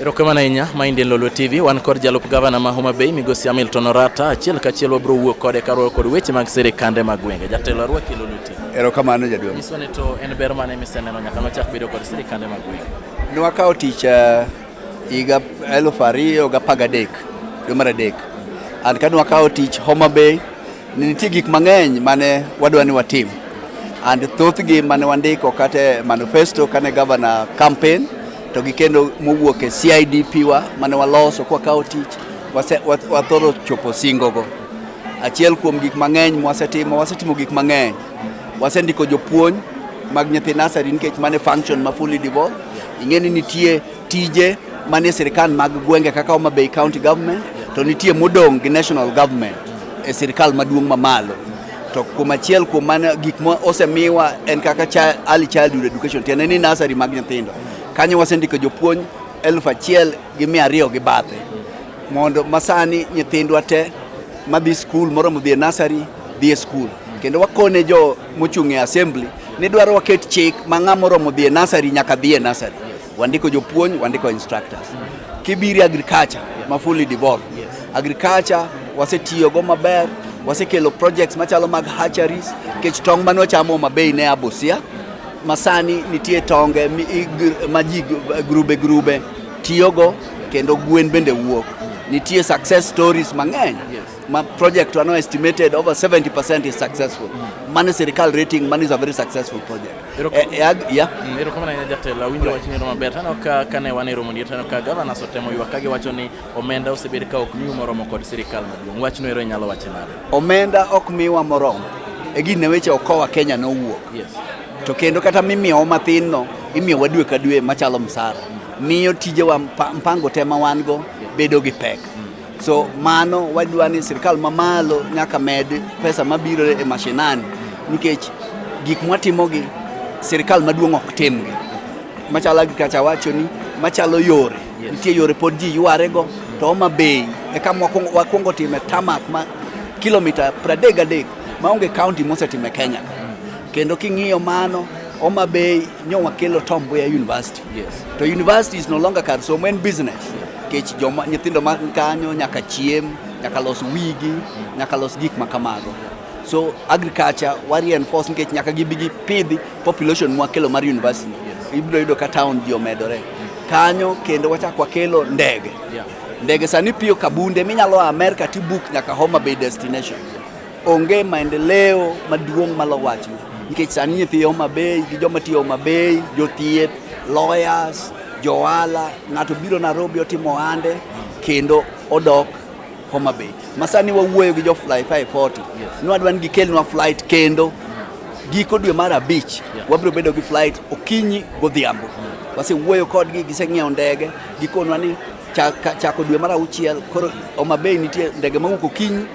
Erokamano ahinya Mind en Lolwe TV wan kod jalup gavana ma Homa Bay migosi Hamilton Orata achiel kachiel wabiro wuok kode karuoyo kod weche mag sirikande mag gwenge. Jatelo arwaki Lolwe TV. Erokamano jaduong'. Nyiswa ni to en ber mane miseneno nyaka nochak bedo kod sirikande mag gwenge. Nwakawo tich eh, higa eluf ariyo gi apar gadek dwe mar adek and kane wakawo tich Homa Bay ne nitie gik mang'eny mane wadwa ni watim and thothgi mane wandiko kata e manifesto kane gavana campaign to gi kendo mowuok e CIDP wa mane waloso kwa kawo tich wase- wa- wathoro chopo singogo achiel kuom gik mang'eny mwasetimo wasetimo gik mang'eny wasendiko jopuonj mag nyithi nasari nikech mane function ma fully devolved Ing'e ni nitie tije manie sirkal mag gwenge kaka Homa Bay County Government to nitie modong' gi national government e sirkal maduong' mamalo to kuom achiel kuom mano gik ma osemiwa en kaka early childhood education tiende ni nasari mag nyithindo kanyo wasendiko jopuonj elfu achiel gi mia ariyo gi bathe mondo masani nyithindwa te madhi skul moromo dhi e nasari dhi e skul kendo wakone jo mochung' e assembly ni dwaro waket chik ma ng'a moromo dhi e nasari nyaka dhi e nasari. Wandiko jopuonj, wandiko instructors. Kibiri agriculture ma fully devolved. Agriculture wasetiyogo maber, wasekelo projects machalo mag hatcheries, kech tong' mane wachamo mabei ne Abusia, masani nitie tonge ma ji grube grube tiyogo kendo gwen bende wuok. Nitie success stories mang'eny. Ma project are now estimated over 70% is successful. Mm. Money sirikal rating, money is a very successful project. Ero eh, eh, yeah. Mm, ero kama na jatela winjo right. wachni roma ber tano ka kane wane romo ni tano ka gavana sotemo yuwa kage wacho ni omenda osebed ka ok miwa moromo kod sirikal maduong. Wachno ero nyalo wache nade? Omenda ok miwa moromo. E gine weche okowa Kenya no wuok. Yes. To kendo kata mimiyo mathin no, imiyo wadwe ka dwe machalo msara. Mm. Miyo tijewa mpango tema wan go bedo gi pek. Mm. So mano wadwa ni sirkal mamalo nyaka med pesa mabiro e mashinani nikech gik mwatimogi sirkal maduong' ok timgi. Machalo agriculture wacho ni machalo yore, nitie yore pod ji ywarego to Homa Bay eka wakwongo time tamak ma kilomita 33 maonge kaunti mosetime Kenya. Kendo king'iyo mano Homa Bay nyo wakelo Tom Mboya University. Yes. To university is no longer kar somo en business. Kech joma nyithindo ma kanyo nyaka chiem, nyaka los wigi, nyaka los gik ma kamago. So agriculture wa reinforce nikech nyaka gibi gi pidhi population mwa kelo mar university. Ibiro yudo ka town ji omedore. Kanyo kendo wachak wakelo ndege. Ndege sani piyo kabunde minyalo a America tibuk nyaka Homa Bay destination. Onge maendeleo maduong' malo wachni nikech sani nyithi Homa Bay gi joma tiyo Homa Bay, jothieth, lawyers, johala, ng'ato biro Nairobi otimo ohande kendo odok Homa Bay. Masani wawuoyo gi jo Fly 540 nwadwa ni gikelnwa flight kendo giko dwe mar abich wabiro bedo gi flight okinyi godhiambo. Wasewuoyo kodgi, giseng'iewo ndege, gikonwa ni chako dwe mar auchiel koro Homa Bay nitie ndege mawuok okinyi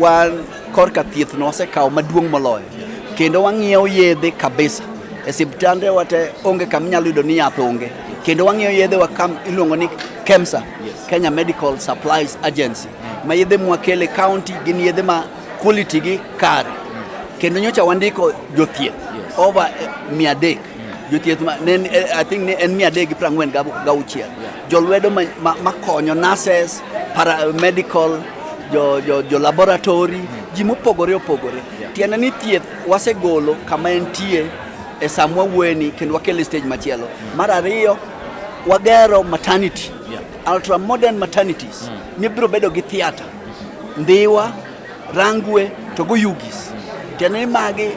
Wan korka thiethno wasekawo maduong' moloyo kendo wang'iewo yedhe kabisa e siptande wate onge kama inyalo yudo ni yath onge kendo wang'iewo yedhe wa kam iluongo ni KEMSA Kenya Medical Supplies Agency ma yedhe mwakele county gin yedhe ma quality gi kare kendo nyocha wandiko jothieth over eh, mia adek jothieth ma- ne en- eh, I think ne en mia adek gi prang'wen gauchiel jolwedo ma- ma- makonyo nurses paramedical jo, jo, jo laboratory ji mopogore opogore tiende ni thieth wasegolo kama entie e samwa wueni kendo wakele stage machielo mar ariyo wagero maternity ultra modern maternities mibiro bedo gi theatre ndiwa rangwe to go yugis tiende ni magi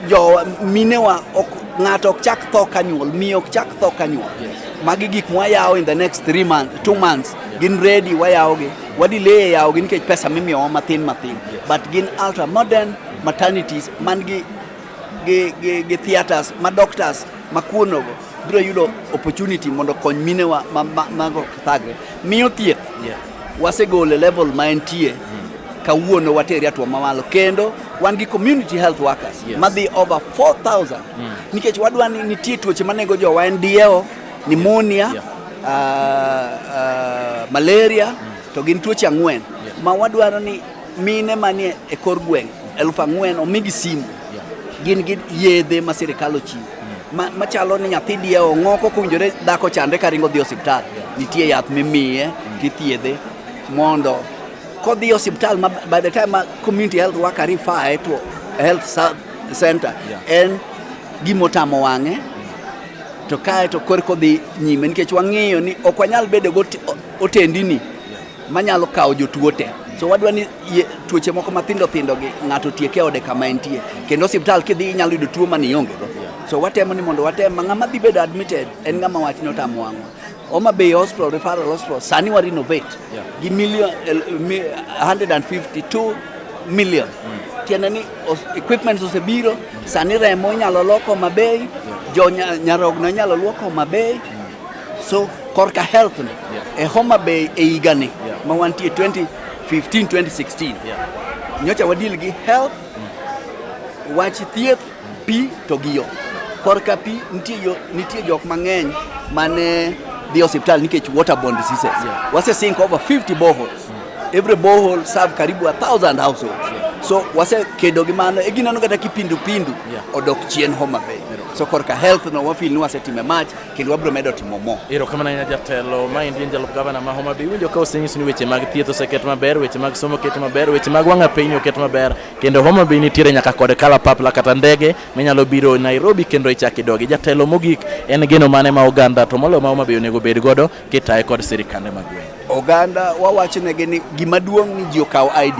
Jo minewa ok ng'ato ok chak tho kanyuol, miyo ok chak tho kanyuol. Magi gik mwayawo in the next three months, two months gin ready wayawogi. Wadileye yawogi nikech pesa mimiyowa matin matin. But gin ultra modern maternities man gi gi, gi, gi theaters ma doctors ma kuonogo biro yudo opportunity mondo kony minewa mago ma, ma, ma thagre miyo thieth yeah. Wasegole level ma entie kawuono wateri atwa mamalo kendo wan gi community health workers yes. madhi over 4000 mm. nikech wadwa ni nitie tuoche manego jowa en dieo pneumonia yeah. uh, uh, malaria mm. to gin tuoche ang'wen yeah. ma wadwaro ni Mine manie e kor gweng' elfu ang'wen omigi simu, gin gi yedhe ma sirikal ochiwo ma- machalo ni nyathi diye ong'oko kowinjore dhako chandre ka ringo dhi osiptal, nitie yath mimiye tithiedhe mondo kodhi e osiptal ma by the time ma community health worker refer to health sa- center en gimotamo wang'e to kae to korko dhi nyime nikech wang'eyo ni ok wanyal bedo gi otendini manyalo kawo jotuo te so wadwa ni tuoche moko mathindo thindo gi ng'ato tieke ode kama entie kendo osiptal kidhi inyalo yudo tuo mane iongego so watemo ni mondo watem ma ng'ama dhi bedo admitted en ng'ama wach ni otamo wang'wa Homa Bay Hospital Referral Hospital sani wa renovate yeah. gi million uh, 152 million mm. tiende ni equipments osebiro sani remo inyalo loko Homa Bay yeah. jo nyarogno inyalo lwoko Homa Bay mm. So korka health ni e Homa Bay e higa ni ma wantie 2015 2016 nyocha wadil gi health wach thieth pi to gi yo korka pi nitie yo nitie jok mang'eny mane dhi hospital nikech waterborne diseases wase sink over 50 boreholes every borehole serve karibu a thousand households so wase kedo gi mano e gineno kata kipindupindu Yeah. odok chien Homa Bay so korka health no wafil ni wasetime mach kendo wabiro medo timo mo. Erokamano ahinya jatelo. Ma endi en jalup gavana ma Homa Bay. Iwinjo ka osenyis ni weche mag thieth oseket maber, weche mag somo oket maber, weche mag wang'a piny oket maber. Kendo Homa Bay nitiere nyaka kod kalapapla kata ndege minyalo biro Nairobi kendo ichak idogi. Jatelo mogik en geno mane ma oganda to moloyo ma Homa Bay onego bed godo kitaye kod sirikande mag gweng'. Oganda wawachnegi ni gima duong' ni ji okaw ID.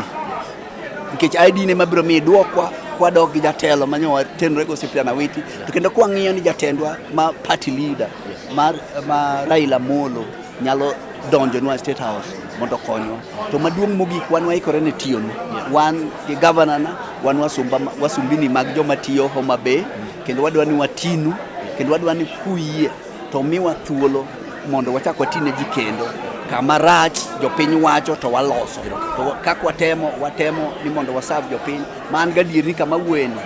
nikech ID ne mabiro miyi dwokwa kwadok gi jatelo manyowa tenre go Cyprian Awiti to kendo kwang'iyo ni jatendwa ma party leader mar ma Raila Molo nyalo donjo nwa State House mondo konywa. To maduong' mogik wan waikore ne tiyonu. Wan gi governor na wan wasumba wasumbini mag joma tiyo Homa Bay kendo wadwa ni watinu kendo wadwa ni kuyie To miwa thuolo mondo wachak watine ji kendo kama rach jopiny wacho to waloso to kaka watemo watemo ni mondo wasav jopiny ma an gadier ni kama wueni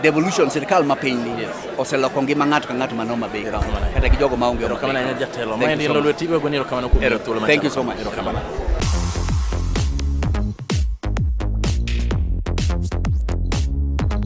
devolution sirkal ma piny ni oseloko ngima ng'ato ka ng'ato mano mabe kata gi jogo maonge erokamano ahinya jatelo ma en ilo lweti iwego ni erokamano kuom thuolo ma thank you so much erokamano